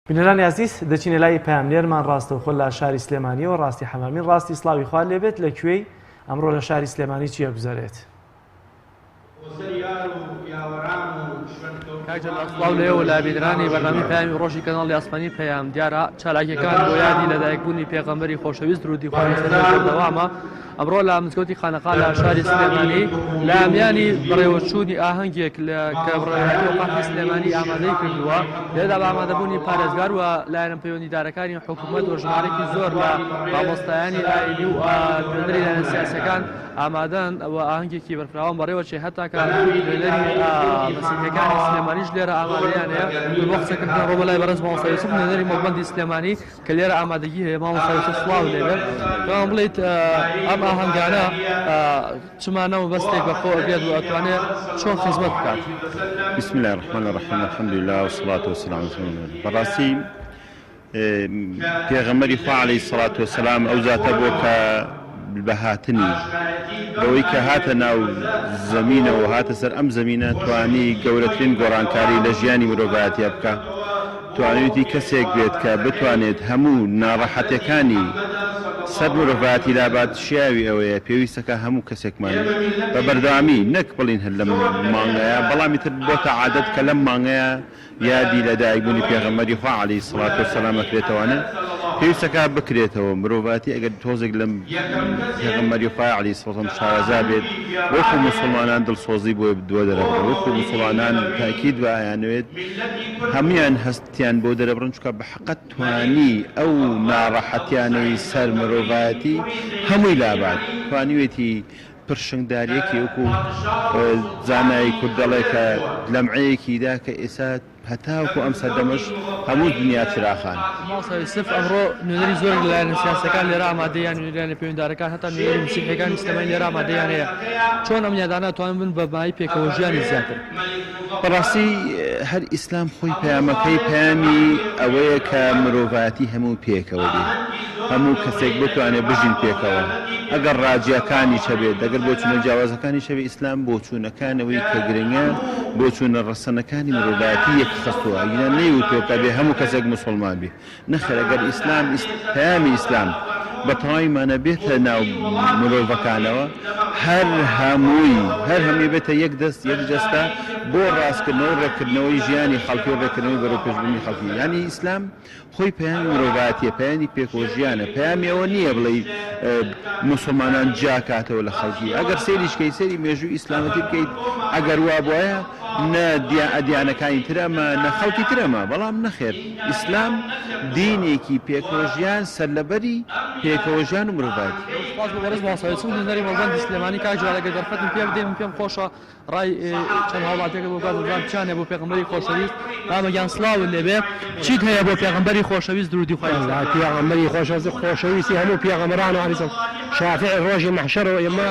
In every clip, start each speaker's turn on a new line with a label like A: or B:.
A: بینەرانی ئازیز دەچینە لای پەیامنێرمان ڕاستەوخۆ لە شاری سلێمانیەوە ڕاستی حەمامین ڕاستی سڵاوی خوار لێبێت لە کوێی ئەمڕۆ لە شاری سلێمانی چی ئەگوزەرێت؟ کاک جەلال
B: سڵاو لە ئێوە لە بینەرانی بەرنامەی پەیامی ڕۆژی کەناڵی ئاسمانی پەیام دیارە چالاکیەکان بۆ یادی لەدایکبوونی پێغەمبەری خۆشەویست درودی خوای لەسەر بێت بەردەوامە ئەمڕۆ لە مزگەوتی خانەقا لە شاری سلێمانی لە میانی بەڕێوەچوونی ئاهەنگێک لە کە بڕێوەقاتی سلێمانی ئامادەی کردووە لێدا بە ئامادەبوونی پارێزگار و لایەن پەیوەندیدارەکانی حکوومەت و ژمارێکی زۆر لە مامۆستایانی ئایلی و خوێنەری لایەن سیاسەکان ئامادەن و ئاهەنگێکی بەرفراوان بەڕێوەچێ هەتاکە سلێمانیش لێرە ئامادەیانەیە بۆ قسەکردن ڕۆ لای بەرز مامۆستا یوسف نوێنەری مەڵبەندی سلێمانی کە لێرە ئامادەگی هەیە مامۆستا یوسف سڵاوت لێ بێت پێمان بڵێیت ئەم ئاهەنگانە چ مانا و بەستێک بە خۆ ئەگرێت و ئەتوانێ چۆن خزمەت بکات بسم الله
C: الرحمن الرحیم الحمد لله والصلاة والسلام على رسول الله بەڕاستی پێغەمبەری خوا علیه الصلاة والسلام ئەو زاتە بۆ کە بە هاتنی، بەوەی کە هاتە ناو زەمینەوە و هاتە سەر ئەم زەمینە توانی گەورەترین گۆڕانکاری لە ژیانی مرۆڤایەتیە بکا، توانیویتی کەسێک بێت کە بتوانێت هەموو ناڕەحەتەکانی سەر مرۆڤایەتی لابات، شیاوی ئەوەیە پێویستەکە هەموو کەسێکمان بە بەردەوامی نەک بڵین هەر لەم مانگەیە بەڵام ئیتر بۆتە عادەت کە لەم مانگەیە، یادی لە دایک بوونی پێغەمبەری خوا علیە الصلوة و سلام ئەکرێتەوانێ پێویستە کار بکرێتەوە مرۆڤایەتی ئەگەر تۆزێک لەم پێغەمبەری خوا علیە الصلوة و سلام شارەزا بێت وەکو موسڵمانان دڵسۆزی بۆی بدوە دەرەبڕن وەکو موسڵمانان تاکید بە ئەیانەوێت هەمویان هەستیان بۆ دەرەبڕن چکە بە حەقەت توانی ئەو ناڕەحەتیانەی سەر مرۆڤایەتی هەمووی لابات توانیوێتی پرشنگدارێکی وەکو زانای کورد دەڵێ کە لەمعەیەکی دا کە ئێستا هەتاوەکو ئەم سەردەمەش هەموو دنیا چراخان. مامۆستا یوسف،
B: ئەمڕۆ نوێنەری زۆرێک لە لایەنە سیاسییەکان لێرە ئامادەیە یان نوێنەری پەیوەندارەکان هەتا نوێنەری مسیحییەکانی سلێمانی لێرە ئامادەیان هەیە، چۆن ئەم یادانە ئەتوانن ببن بە مایەی پێکەوەژیانی زیاتر؟ بەڕاستی
C: هەر ئیسلام خۆی پەیامەکەی پەیامی ئەوەیە کە مرۆڤایەتی هەموو پێکەوە بێ هەموو کەسێک بتوانێت بژین پێکەوە ئەگەر ڕاجیەکانی چەبێت دەگەر بۆچونە جیاوازەکانی شەوی ئیسلام بۆچوونەکانەوەی کە گرنگە بۆچوونە ڕەسەنەکانی مرۆڤایەتی یەکخستووە یان نەیوتۆ کە بێ هەموو کەسێک مسلمان بێ نەخێر ئەگەر ئیسلام پەیامی ئیسلام بە تەواوی مانا بێتە ناو مرۆڤەکانەوە هەر هەمووی هەر هەمووی بێتە یەک دەست یەک جەستە بۆ ڕاستکردنەوە و ڕێکردنەوەی ژیانی خەڵکی و ڕێکردنەوەی بەرەپێشبوونی خەڵکی یانی ئیسلام خۆی پەیامی مرۆڤاتیە پەیانی پێکۆژیانە پەیامی ئەوە نییە بڵێ مسلمانان جیاکاتەوە لە خەڵکی ئەگەر سێریشکەی سەری مێژوو ئیسلامەتی بکەیت ئەگەر وا بواە نە دیانەکانی ترەمە نە خەڵکی ترەمە بەڵام نەخێت ئیسلام دینێکی پێکەوەژیان، سەرلەبەری پێکەوەژیان و مرۆڤایەتیە. زۆر سوپاس بۆ بەڕێز مامۆستا
B: چەند هونەری مەڵبەندی سلێمانی کاک جلال ئەگەر دەرفەتم پێ بدەی من پێم خۆشە ڕای چەند هاوڵاتیەکە بۆ بکات بزان چیان هەیە بۆ پێغەمبەری خۆشەویست مامە گیان سڵاوت لێ بێ چیت هەیە بۆ پێغەمبەری خۆشەویست درودی خوای لەسەر بێت پێغەمبەری خۆشەویست
D: خۆشەویستی هەموو پێغەمبەرانە علیهم السلام شافیع ڕۆژی مەحشەرەوە ئێمە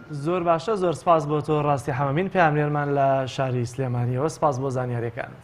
B: زۆر باشە زۆر سپاس
A: بۆ تۆ ڕاستی حەمەمین پەیامنێرمان لە شاری سلێمانیەوە سپاس بۆ زانیاریەکانت.